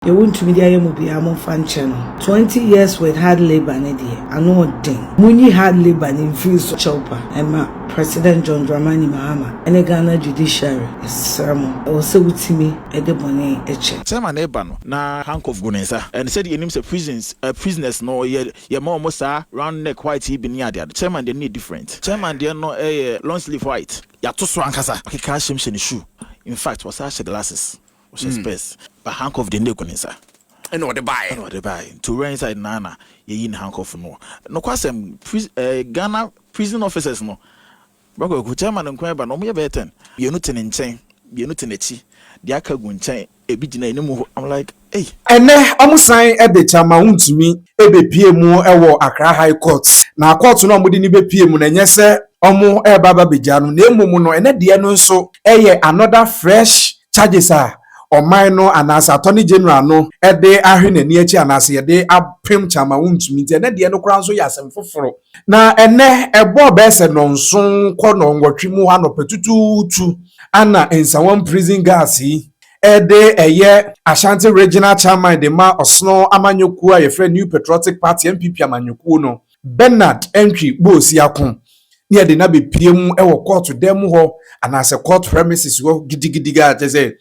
Deɛ wontumi de ayɛ mu biara momfa nkyɛ no. Twenty years with hard labour no deɛ ano ɔden. Monyi hard labour no mfiri so kyɛwpa mma President John Dramani Mahama ne Ghana Judiciary yɛsrɛ mo. Ɛwɔ sɛ wotumi de bɔne kyɛ. Chairman no reba no na handcuff gu ne nsa and sɛdeɛ yɛnim sɛ prisons eh prisoners no yɛ yɛma wɔn saa round neck white yi bi ne adeade chairman deɛ no yɛ different chairman deɛ no yɛ long sleeve white yɛato so ankasa ɔkeka ahyɛm hyɛ ne shoe infact wasan ahyɛ glasses. Ɔhyɛ spɛs. But handcuff deɛ nde gu ne nsa. Ɛna ɔde baeɛ. Ɛna ɔde baeɛ. Nti owura inside naa na yɛyi ne handcuff no. Nokwasɛm, pri eh, Ghana prison officers no, Bra Kwaku, chairman nko ara ba no, wɔn yɛ bɛyɛ ten. Mmienu te ne nkyɛn, mmienu te n'akyi, deɛ aka gu nkyɛn, ebi gyina anim hɔ. I'm like, ei. Ɛnnɛ, wɔsan de Kyama Wontumi bepue mu wɔ Accra High Court. Na court no a wɔde no bepue mu no, ɛnyɛ sɛ wɔreba abɛgya no, na mmom no, ɛnnɛ deɛ no nso yɛ another fresh charges a ɔman no anaasɛ Attorney General no de ahwe n'ani akyi anaasɛ yɛde apem kyɛ ama wontumi nti, ɛnnɛ deɛ no koraa nso yɛ asɛm foforo. Na ɛnnɛ, ɛbɔɔ bɛyɛ sɛ nnɔnson kɔ nnɔnwɔtwe mu hɔ anɔpa tutuutu ana Nsawam Prison Guards yi de ɛyɛ Ashanti Regional Chairman de ma Ɔsono Amanyɔkuo a yɛfrɛ New Patriotic Party, NPP, amanyɔkuo no. Bernard Antwi Boasiako ne yɛde no abɛpue mu wɔ kɔɔto dan mu hɔ anaasɛ court premises hɔ gidigidi a kyɛ sɛ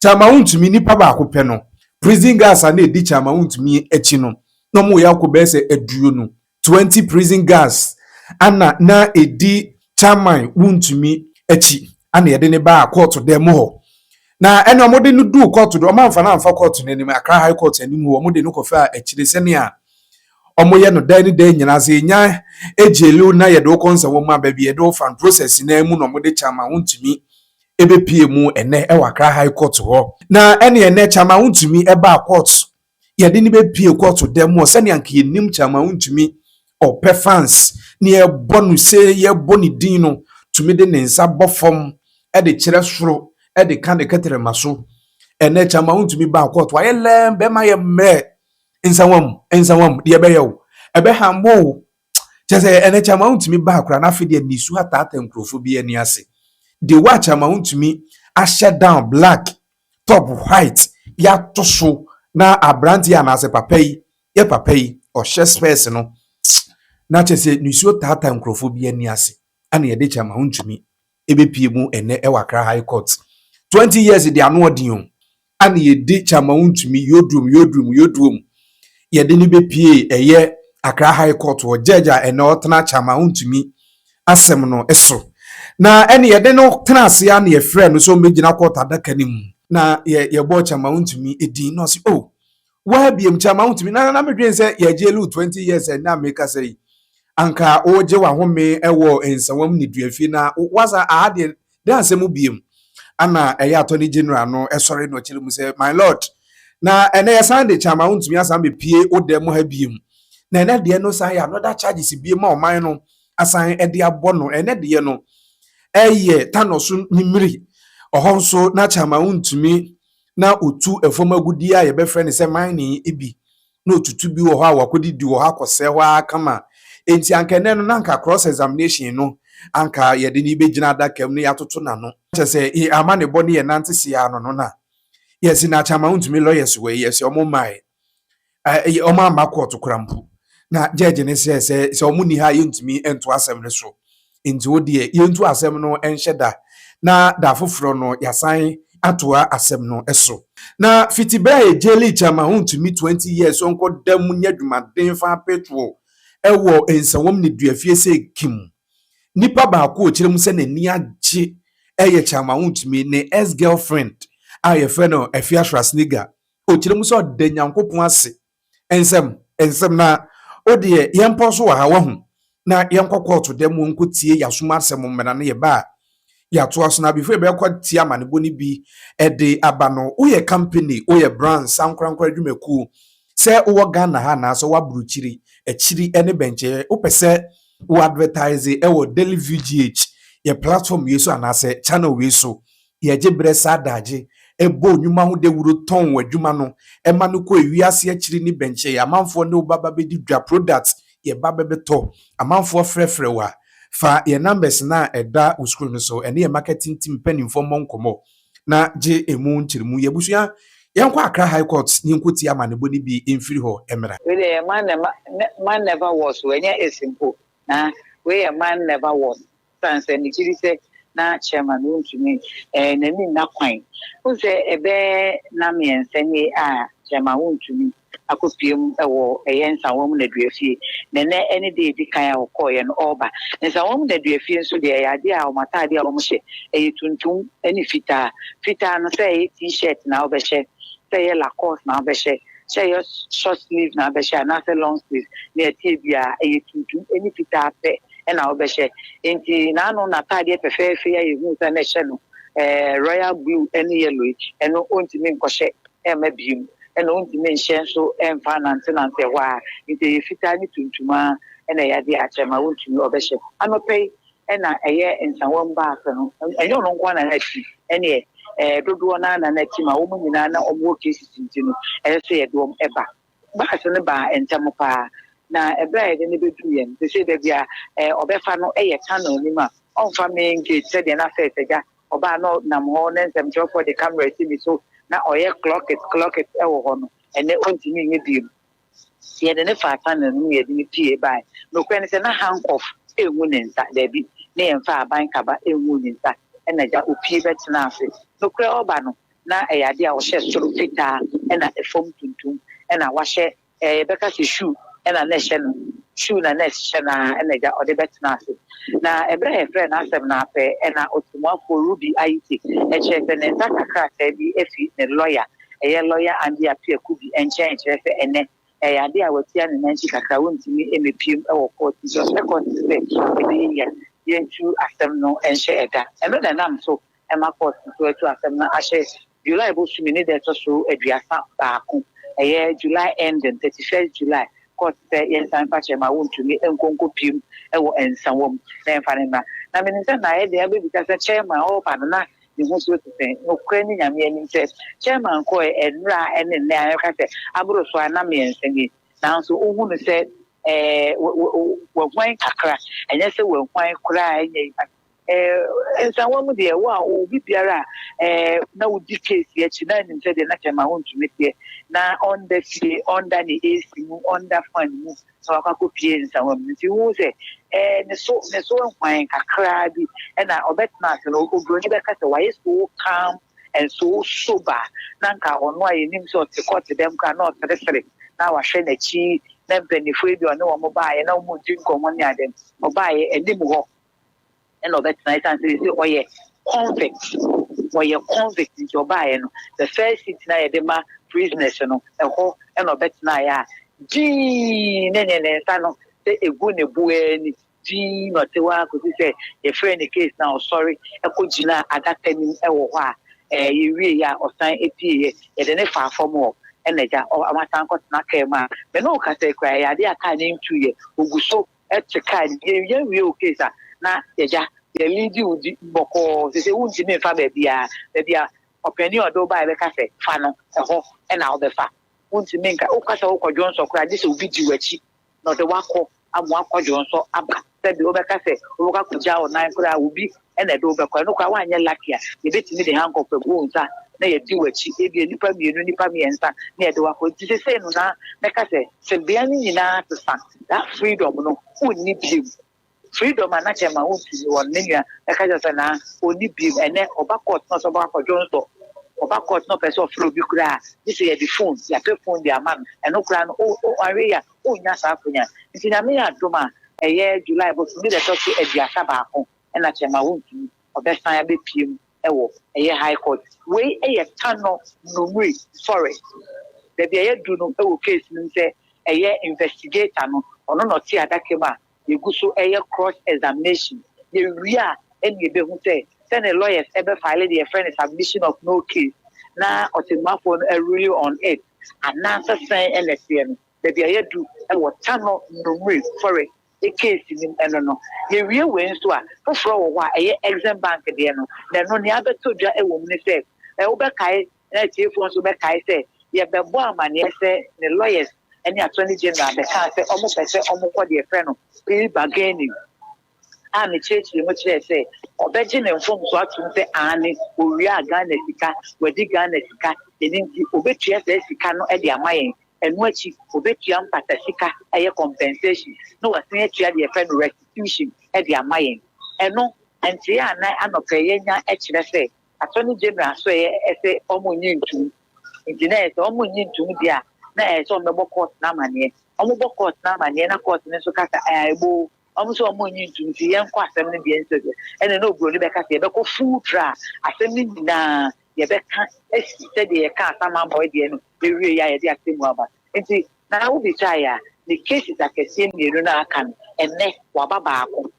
kyama wontumi nnipa baako pɛ no prison guards a na ɛdi kyama wontumi akyi no na wɔyɛ akɔ bɛyɛ sɛ aduonu 20 prison guards ana na ɛdi kyama wontumi akyi ana yɛde ne baa kɔɔto dan mu hɔ na ɛne wɔde no duu kɔɔto do wɔamfa no amfa kɔɔto no anim Accra High Court anim hɔ wɔde no kɔfaa akyire sɛnea wɔyɛ no daa ne daa nyinaa sɛ yɛnya gyeliw na yɛde wo kɔ nsɛnwoma baabi yɛde wo fa process no mu na wɔde kyɛ ama wontumi ɛbɛpie mu ɛnɛ ɛwɔ Accra High Court hɔ na ɛne ɛnɛ kyɛ ama wontumi ɛbaa court yɛde ne bɛpie court dɛm wɔ sɛnea anka yɛnim kyɛ ama wontumi ɔpɛ fans ne yɛbɔ no sɛ yɛbɔ ne din no tumi de ne nsa bɔ fam ɛde kyerɛ soro ɛde ka ne kɛtɛrɛma so ɛnɛ kyɛ ama wontumi baa court wayɛ lɛm bɛma yɛ mmerɛ Nsawa mu, nsawa mu, deɛ ɛbɛyɛ wo, ɛbɛhambo wo. Kyerɛ sɛ, ɛnɛ Kyama wontumi baa koraa na afei deɛ nisu ataata nkurɔfoɔ bi ani ase. De wo a Kyama wontumi ahyɛ down black, top white, yɛato so na aberanteɛ anaasɛ papa yi, yɛ papa yi, ɔhyɛ spɛɛse no, na kyerɛ sɛ nisuo taata nkurɔfoɔ bi ani ase, ɛna yɛde Kyama wontumi. ɛbɛpie mu ɛnɛ ɛwɔ Accra High Court. 20 years de ano ɔden o. A na yɛdi Kyama Wontumi, Yodrum, Yodrum, Yodwom. Yɛde no bɛpie ɛyɛ Accra High Court wɔ judge a ɛnɛ ɔtena Kyama Wontumi asɛm no so. Na ɛne yɛde no tena ase a na yɛfrɛ no sɛ ɔmmɛgyina court adaka no mu. Na yɛbɔɔ Kyama Wontumi din na ɔse oh, Woa biem kyɛ ama wotumi na na medwen sɛ yɛgye lu 20 years ɛnnɛ a mekasa yi anka wogye wahome wɔ nsawam ne duafie na woasa aha deɛ dɛn asɛm biem ana ɛyɛ attorney general no ɛsɔre na ɔkyerɛ mu sɛ my lord na ɛnɛ yɛsan de kyɛ ama wontumi asan bɛpie wo dɛm ha biem na ɛnɛ deɛ no san yɛ another charges biem ma ɔman no asan ɛde abɔ no ɛnɛ deɛ no ɛyɛ tanɔ so ne mmiri ɔhɔ nso na kyɛ ama wontumi na otu fam agudeɛ a yɛbɛfrɛ no sɛ mining bi na otutu bi wɔ hɔ a wakɔdidi wɔ hɔ akɔsɛe hɔ ara kama. Enti anka ɛnɛ no na anka cross examination no anka yɛde no bɛgyina adaka mu na yɛatoto n'ano. Kyɛ sɛ yɛn amanebɔ ne yɛn nante seɛ ano no na yɛse no akyɛ ama wontumi lawyers wɔ yi yɛse wɔn mmaeɛ. Ɛɛ wɔamma kɔɔto koraa mpo. Na gyɛɛgye no srɛɛ sɛ, sɛ wɔn nni ha a, yɛntumi ntoa asɛm no so. Enti wo deɛ, yɛntu asɛm no nhyɛ da, na da foforɔ no, yɛasan atoa asɛm no so. Na fiti berɛ a yɛgye Lee Cham a ɔntumi 20 years sɛ ɔnkɔda mu nyɛ adwumaden fa petrol wɔ nsawam nneduafie sɛ Kim, nipa baako a ɔkyerɛ mu sɛ n'ani agye yɛ Cham a ɔntumi ne ex-girlfriend a wɔfrɛ no Effiah Schwarzenegger Ɔkyerɛ mu sɛ ɔda Nyankopɔn ase. Nsɛm, nsɛm, na O deɛ, yɛmpɔn so wɔ ha, wahu, na yɛnkɔ kɔɔto dɛm hɔ nkɔtie Y'asom asɛm mmra no yɛba a, yɛatoa so, na before yɛbɛkɔ atie amanebɔ no bi de aba no, woyɛ company, woyɛ branch, ankorankoro adwumakuo, sɛ wowɔ Ghana ha anaasɛ wowɔ aburokyiri, akyiri ne bɛnkyɛɛ, wopɛ sɛ wo advertise wɔ Daily View GH, yɛ platform wei so anaasɛ channel wei so, Yɛgye berɛ saa adagye bɔ nnwuma ho dawuro tɔn w'adwuma no ma no kɔ ewie ase akyiri ne bɛnkyɛ yɛ amanfoɔ ne wo ba ba bɛdi dwa products yɛ ba bɛ bɛ tɔ amanfoɔ frɛ frɛ wo a fa yɛ numbers no a ɛda wo screen no so ɛne yɛ marketing team mpaninfoɔ mmɔ nkɔmmɔ na gye ɛmu nkyeremu yɛ abusua yɛn kɔ Accra High Court ne yɛn kɔ tie amanebɔ no bi mfiri hɔ mmra. Wei deɛ yɛ man ne man never was o ɛnyɛ is mpo na wei yɛ man never was Esiane sɛ megye di sɛ na Chairman wontumi ɛɛ n'ani nna kwan. Wohu sɛ ɛbɛyɛ nna mmiɛnsa nie a Chairman wontumi akɔpue mu wɔ ɛyɛ Nsawam Nnaduafie. Na ɛnnɛ ɛne da a ɛdi kan a ɔkɔeɛ no ɔreba. Nsawam Nnaduafie nso deɛ ɛyɛ adeɛ a wɔn ataadeɛ a wɔhyɛ ɛyɛ tuntum ne fitaa. Fitaa no sɛ ɛyɛ T-shirt na wobɛhyɛ, sɛ ɛyɛ Lacoste na wobɛhyɛ, sɛ ɛyɛ short sleeve na wobɛhyɛ anaasɛ long sleeve ne ɛteɛ biara ɛyɛ tuntum ne fitaa pɛ. na wobɛhyɛ. Enti n'ano n'ataadeɛ fɛfɛɛfɛ yi a yɛhuu sɛ na ɛhyɛ no eh, royal blue ne yellow yi, ɛno ɔntumi nkɔhyɛ ɛmma biom. Ɛna ɔntumi nhyɛ nso ɛmfa anantenante ɛhɔ a. Nti ɛyɛ fitaa ne tuntum ara ɛna ɛyɛ adeɛ akyɛ ma ɔntumi ɔbɛhyɛ. Anɔpa yi ɛna ɛyɛ nsawam baako no, ɛnyɛ ɔno nko na n'ati ɛneɛ eh, dodoɔ no ara na n'ati ma wɔn nyinaa na wɔn wɔ cases nti no ɛsɛ sɛ yɛde wɔn ɛba. Bus no baa ntɛm paa, na bere a yɛde no beduu yɛn sesei baabi a ɔbɛfa no yɛ tunnel no mu a ɔmfa main gate sɛdeɛ na first agya ɔbaa no nam hɔ na nsɛmtwerɛfoɔ de camera si ne so na ɔyɛ clock it clock it wɔ hɔ no, ɛnnɛ ɔntumi nyɛ bio. Yɛde no faa tunnel no mu na yɛde no pue bae. Nokorɛ ne sɛ na handcuff ngu ne nsa, daabi, ne yɛmfaa aban kaba nguu ne nsa, ɛna gya ɔpue bɛtenaa ase. Nokorɛ ɔba no, na ɛyɛ adeɛ a wɔhyɛ soro fitaa na ɛfam tuntum na wahyɛ ɛɛ yɛbɛka sɛ shoe na na ɛhyɛ no shoe na na ɛhyehyɛ no ara na agya ɔde bɛtena ase na ɛberɛ a yɛfrɛ no asɛm no apɛ ɛna ɔtɛmmuafoɔ Ruby Ayiti ɛkyerɛ sɛ ne nsa ka krataa bi afi ne lɔya ɛyɛ lɔya Andy Appiah Kubi nkyɛn ɛkyerɛ sɛ ɛnɛ ɛyɛ adeɛ a watia ne nan ti kakra wɔntumi mmɛpiem wɔ kɔɔt nti ɔsrɛ kɔɔt sɛ ɛbɛyɛ yia yɛntu asɛm no nhyɛ ɛda ɛno na ɛnam so ɛma kɔɔt no to atu asɛm no ahyɛ July bosome ne da a ɛtɔ so aduasa baako, ɛyɛ July ending, thirty first July, kɔɔt sɛ yɛnsan mfa kyerɛ ma wontumi nkɔ nkɔpiem wɔ nsawa mu na yɛmfa no mmra. Na menim sɛ na ayɛ den abɛbisa sɛ chairman ɔreba no na ne ho nsuo te sɛn. Nokorɛ ne Nyame anim sɛ chairman kɔɔɛ ɛnora ne nnɛ a yɛka sɛ aboro so a na mmiɛnsa nie. Nanso wohunu sɛ ɛɛ wahuan kakra, ɛnyɛ sɛ wahuan koraa ɛnyɛ yi. Eh, nsawa mu deɛ, wo a ɔwɔ bi biara a, eh, na wodi case akyi, na nim sɛ deɛ na kyɛma wontumi teɛ, na ɔnda fie, ɔnda ne AC mu, ɔnda fan mu, na wakɔ akɔpie nsawa mu. Nti wohu sɛ, eh, ne so, ne so hwan kakraa bi, ɛna ɔbɛtena ase no, oburoni bɛka sɛ wayɛ so calm and so sober, na nka ɔno a yɛnim sɛ ɔte kɔɔte dɛm koraa na ɔseresere, na wahwɛ n'akyi, na mpanyinfoɔ yi deɛ ɔne wɔn baeɛ, na wɔn redi nkɔmmɔ ne ade no, ɔbaeɛ anim hɔ, ɛna ɔbɛtena ɛsan sɛ sɛ ɔyɛ convict ɔyɛ convict nti ɔbaeɛ no the first seat na yɛde ma prisoners no ɛhɔ ɛna ɔbɛtenaeɛ a gyii ne ne ne nsa no sɛ ɛgu ne boɛ ni gyii na ɔte hɔ a kɔsi sɛ yɛfrɛ ne case na ɔsɔre ɛkɔ gyina adaka nim ɛwɔ hɔ a ɛɛ yɛwie yɛ a ɔsan ɛpie yɛ yɛde ne faa fam hɔ ɛna gya ɔmasan kɔtena kaa mu a mene wo kasa kura yɛ adeɛ a kaa ne ntu yɛ ɔgu so te kaa no yɛn yɛn wie o case a na yɛgya yɛn mi di o di bɔkɔɔ sese wo ntumi nfa baabi a baabi a ɔpɛni ɔde ɔbaa yɛbɛka sɛ fa no ɛhɔ ɛna ɔbɛfa wo ntumi nka o kasa o kɔdwo nsɔ koraa gye sɛ obi di w'akyi na ɔde wakɔ amu akɔdwo nsɔ aba sɛbi ɔbɛka sɛ ɔbɛka kɔgya ɔnan koraa obi na ɛde wo bɛkɔ. Ɛno koraa woanyɛ lucky a, yɛbɛtumi de handcuff agu wo nsa na yɛadi w'akyi, ebia nnipa mmienu, nnipa mmiɛnsa na yɛde wo akɔ. Nti sesei no na mɛka sɛ tebea no nyinaa asesa, that freedom no wonni biom. Freedom a na kyɛ ma wontumi wɔ no, me nua mɛka kyerɛ sɛ na ɔnni biom. Ɛnɛ ɔba court na ɔsɛ ɔbɛkɔ akɔdwo nsɔ, ɔba court na ɔpɛ sɛ ɔfrɛ obi koraa a, gye sɛ yɛde phone, yɛapɛ phone de ama no. Ɛno koraa no, o, o, anhwɛ yie a, Wonnya saa akwannya no. Nti Nyame yɛ adom a, ɛyɛ July bosome da ɛtɔ so aduasa baako na kyɛ ma wontumi. Ɔbɛsan abɛpue mu wɔ ɛyɛ High Court. Wei yɛ Tano Numri Forest, baabi a yɛadu no wɔ case no mu sɛ ɛyɛ investigator no, ɔno na ɔte adaka mu a Yegu so yɛ cross examination, yewie a ɛna yebehu sɛ sɛnea lawyers bɛ file deɛ yɛfrɛ no submission of no case na ɔtɛmmuafoɔ no arule on it anaasɛ sɛn na ɛteɛ no. Baabi a yɛadu wɔ Tanɔ Numre forest case no mu ɛno no. Yewie wei nso a, foforɔ wɔ hɔ a ɛyɛ Exim Bank deɛ no, na ɛno nea abɛtɔ dwa wɔ mu ne sɛ, wobɛkae na atiefo nso bɛkae sɛ yɛbɛbɔ amanneɛ sɛ ne lawyers ne attorney general bɛkaa sɛ wɔpɛ sɛ wɔkɔ deɛ yɛfrɛ no plea bargaining a mekyerɛkyerɛ mu kyerɛɛ sɛ ɔbɛgye ne mfomso atom sɛ aane owiaa Ghana sika, wadi Ghana sika, ɛno nti ɔbɛtua saa sika no de ama yɛn, ɛno akyi ɔbɛtua mpata sika, ɛyɛ compensation, na wasan atua deɛ yɛfrɛ no restitution de ama yɛn. Ɛno, nteɛ anan anɔpɛ yɛanya kyerɛ sɛ Attorney General so ɛyɛ ɛsɛ ɔmo nye ntum nti na ɛyɛ sɛ ɔmo nye ntum deɛ a na ɛyɛ sɛ ɔmo bɛbɔ court no amaneɛ ɔmo bɔ court no amaneɛ na court no nso ka sɛ ɛɛ eboo ɔmo sɛ ɔmo nye ntum nti yɛn kɔ asɛm no deɛ nso deɛ ɛna na oburoni bɛka sɛ yɛ bɛkɔ full trial asɛm no nyinaa yɛ bɛka esi sɛ deɛ yɛ ka asam abɔɛ deɛ no ewie yɛ a yɛ de asɛm mu aba nti na awo bi sa yɛ a ne cases akɛseɛ mmienu na aka no ɛnɛ waba baako.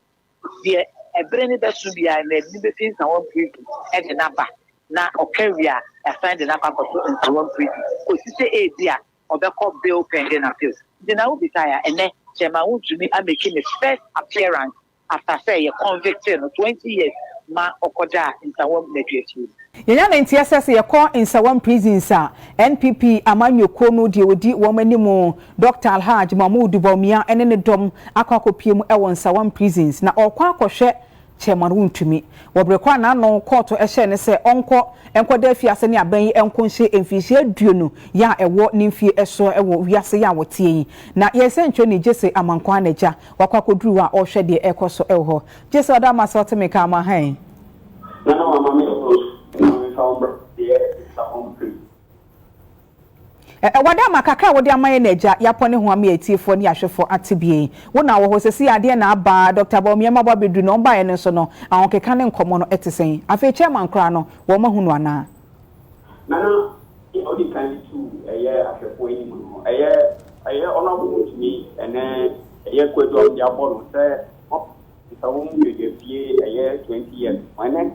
Deɛ bere no bɛso biara no, ɛbi bɛfi Nsawam Prison de no aba, na ɔka wie a, yɛasan de no akɔ akɔto Nsawam Prison, kɔsi sɛ ebia ɔbɛkɔ bail pending appeal. Nti na wobisaeɛ a, ɛnnɛ Chairman wontumi amake ne first appearance after sɛ yɛ convictee no twenty years ma ɔkɔdaa Nsawam Nnaduafie mu. Yɛnya ne nteɛ sɛ sɛ yɛkɔ Nsawam prisons a, NPP amanyɔ kuo no deɛ ɔdi wɔn anim, Dɔkta Alhaj Mahmood Bawumia ɛne ne dɔm akɔ akɔpue mu ɛwɔ Nsawam prisons na ɔrekɔ akɔhwɛ Chairman Wontumi. Wɔ bere koro a n'ano kɔɔto ɛhyɛɛ no sɛ ɔnkɔ nkɔda afiase ne abɛn yi nko nhyɛ mfinhyia aduonu yɛ a ɛwɔ ne mfie ɛsoɔ ɛwɔ wiase yɛ a wɔteɛ yi na yɛn sɛnkyerɛni Gyese Amankwah n'agya wakɔ akɔduru hɔ a ɔrehwɛ deɛ ɛrekɔ so ɛwɔ hɔ. Gyese ɔda mo ase ɔte me nka ama hann. Na na wama me ɔdɔ so na mensa wo mbra deɛ nsa hɔ mpem. Ɛwɔ dɛ ma kakra a wode ama yɛn no Agya, yɛapɔ ne ho ama atiefoɔ ne ahwɛfoɔ ate bie. Wo na wɔ hɔ, seesei adeɛ na aba, Dɔkta Bawumia mmabɔ abɛduru na wɔn baeɛ no nso no, ahokeka ne nkɔmmɔ no te sɛn? Afei Chairman koraa no, wɔahu no anaa? Nana, deɛ ɔdi kan de tu ɛyɛ ahwɛfoɔ anim no, ɛyɛ ɛyɛ Honourable Wontumi ne ɛyɛ Kwadu a wɔde abɔ no sɛ Nnipa wɔ mu yɛyɛ fie ɛyɛ twenty years wɛnɛ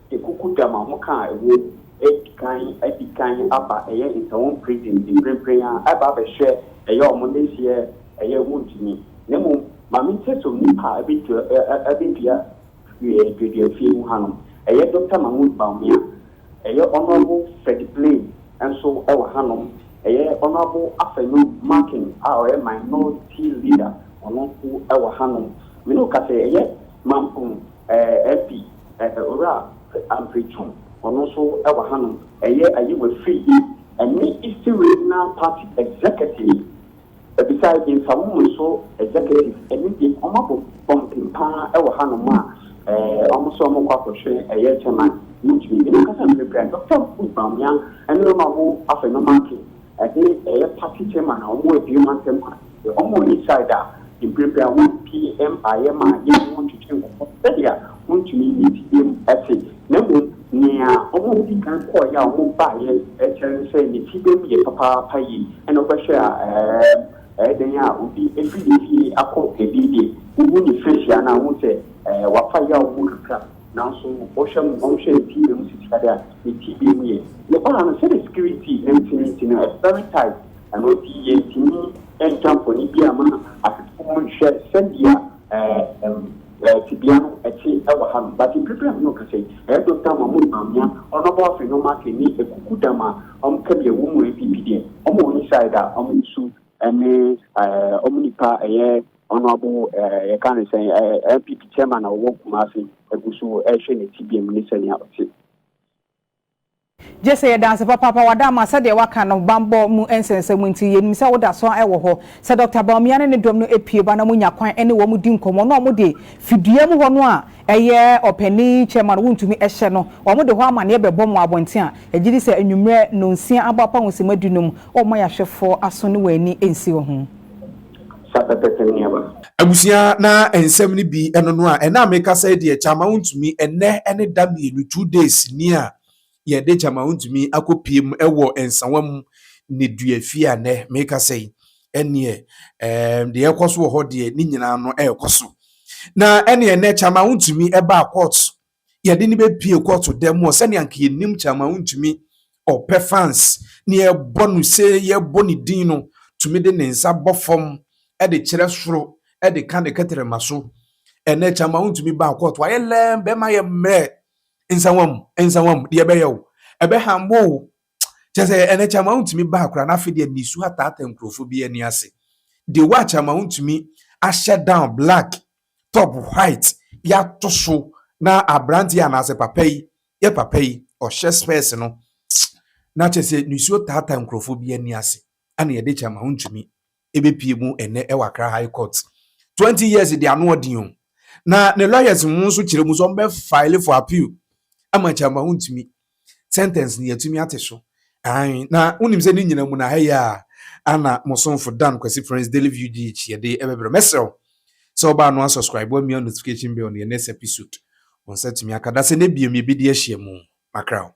de kuku dam a mo ka a ɛwɔ mu adi kan adi kan aba ɛyɛ nsawom prison de mprempren a ɛba abɛhwɛ ɛyɛ ɔmo ne seɛ ɛyɛ mo ntumi na mmom ma me nkyɛ som nnipa a ɛbɛdua ɛbɛdua duadua fie mu hanom ɛyɛ Doctor Mahmood Bawumia. Ɛyɛ Honourable Fred Blay nso wɔ hanom. Ɛyɛ Honourable Afenu Markin a ɔyɛ Minority Leader, ɔno nso wɔ hanom. Me ne wo ka sɛ ɛyɛ Mampong MP, Owura Ampre Twum, ɔno nso wɔ hanom. Ɛyɛ Ayiwa Firi yi ne Eastern Regional Party Executive Bisae de fa wo mu so executive ɛno deɛ wɔn abɔ bɔmpen paa wɔ ha nom a ɛɛ wɔn sɛ wɔn kɔ akɔ hwɛ ɛyɛ chairman wɔn tumi nyɛ wɔn kasa mpere pere Doctor Mahmood Bawumia ɛne wɔn a wɔn afa no marking ɛde ɛyɛ party chairman a wɔn adue wɔn asɛm a wɔn wɔ inside a mpere pere a wɔn pie ɛmpaeɛ ma yɛn wɔn twetwe nkɔmɔ sɛdeɛ wɔn tumi nyɛ ti yɛm ɛte na mmom Nea wɔdii kan kɔeɛ a wɔbaeɛ kyerɛ ne sɛ ne ti bɛm yɛ papaapa yie, ɛna wobɛhwɛ a ɛɛm ɛyɛ dɛn a obi firi ne fie akɔ baabi deɛ wohu ne face a na wohu sɛ ɛɛ wafa yaw mu kakra, nanso wohwɛ no wɔnhwɛ ne ti bɛm sisi adeɛ a ne ti bɛm yɛ. Yɛbaa ha no sɛdeɛ security nti no nti no ɛyɛ very tight, ɛno nti yɛntumi ntwa mfoni biara mma asetefo nhwɛ sɛdeɛ ɛɛm Ɛ, tebea no, ɛte wɔ ha no, but mprepren a me ne wo kasa yi, ɛyɛ Doctor Mahmood Bawumia, Honourable Afei na ɔmo afei ne akuku dam a ɔmo ka deɛ wɔn mu NPP deɛ ɔmo wɔ ne side a ɔmo nsu ɛne ɛɛ ɔmo nipa ɛyɛ Honourable ɛɛ yɛka ne sɛn ɛɛ NPP Chairman a ɔwɔ Kumasi ɛgu so ɛɛhwɛ ne tebea mu ne sɛnea ɔte. Gye sɛ yɛda ase papaapa, Wadamma, sɛdeɛ woaka no bammɔ mu nsɛnsɛm nti, yɛnim sɛ woda so ara wɔ hɔ. Sɛ Dɔkta Bawumia ne ne dɔm no pue ba na monya kwan ne wɔn di nkɔmmɔ na wɔde fidua mu hɔ no a ɛyɛ ɔpanin kyɛm a no wontumi hyɛ no, wɔde hɔ amanneɛ bɛbɔ mo abɔnten a, yɛgye di sɛ anwummerɛ nnɔnsia abɔ apahosima dunum, wɔremma yɛahwɛfoɔ aso ne wɔn ani nsi wɔ ho. Fa pɛpɛpɛ nneɛma. Abusua na nsɛm no bi ɛno no a ɛna meka sɛ deɛ gyama wo ntumi ɛnɛ ɛne da mmienu two days ni a yɛde gyama wo ntumi akɔ pie mu ɛwɔ nsawa mu ne dua fie a nɛ meka sɛ yi ɛneɛ ɛɛm deɛ ɛkɔ so wɔ hɔ deɛ ne nyinaa no ɛɛkɔ so na ɛneɛ nɛ gyama wo ntumi ɛbaa court Yɛde no bɛpue kɔɔto dan mu hɔ sɛnea anka yɛnim Chairman Wontumi ɔpɛ fans na yɛbɔ no se yɛbɔ ne din no tumi de ne nsa bɔ fam de kyerɛ soro de ka ne kɛtrɛma so. Ɛnɛ Chairman Wontumi baa kɔɔto ayɛ lɛɛm bɛma yɛ mmerɛ nsawam nsawam deɛ ɛbɛyɛ o ɛbɛha mbo o kyɛ sɛ ɛnɛ Chairman Wontumi baa koraa na afei deɛ nisu ataata nkurɔfoɔ bi ani ase. Dewa Chairman Wontumi ahyɛ down black top white bi ato so na aberante yi anaasɛ papa yi yɛ papa yi ɔhyɛ spɛs no na kyerɛ sɛ nisuo taata nkurɔfoɔ bi ani ase ɛna yɛde kyɛ ma wontumi ɛbɛpie mu ɛnɛ ɛwɔ akra high court 20 years de ano ɔden o na ne lawyers mu nso kyerɛ mu sɛ ɔmbɛ file for appeal ama kyɛ ma wontumi Sentence no yɛatumi ate so. Ae, na wonim sɛ ne nyina mu no aha yi a ana mo somfo Dan Kwasi Prince Daily View GH yɛde ɛbɛbrɛ. Mɛsrɛ wo sɛ wobaa no a subscribe wo amia notification bell no yɛ next episode wo nsa tumi aka da sɛ na biom yɛbɛdi ahyia mu. Makra wo.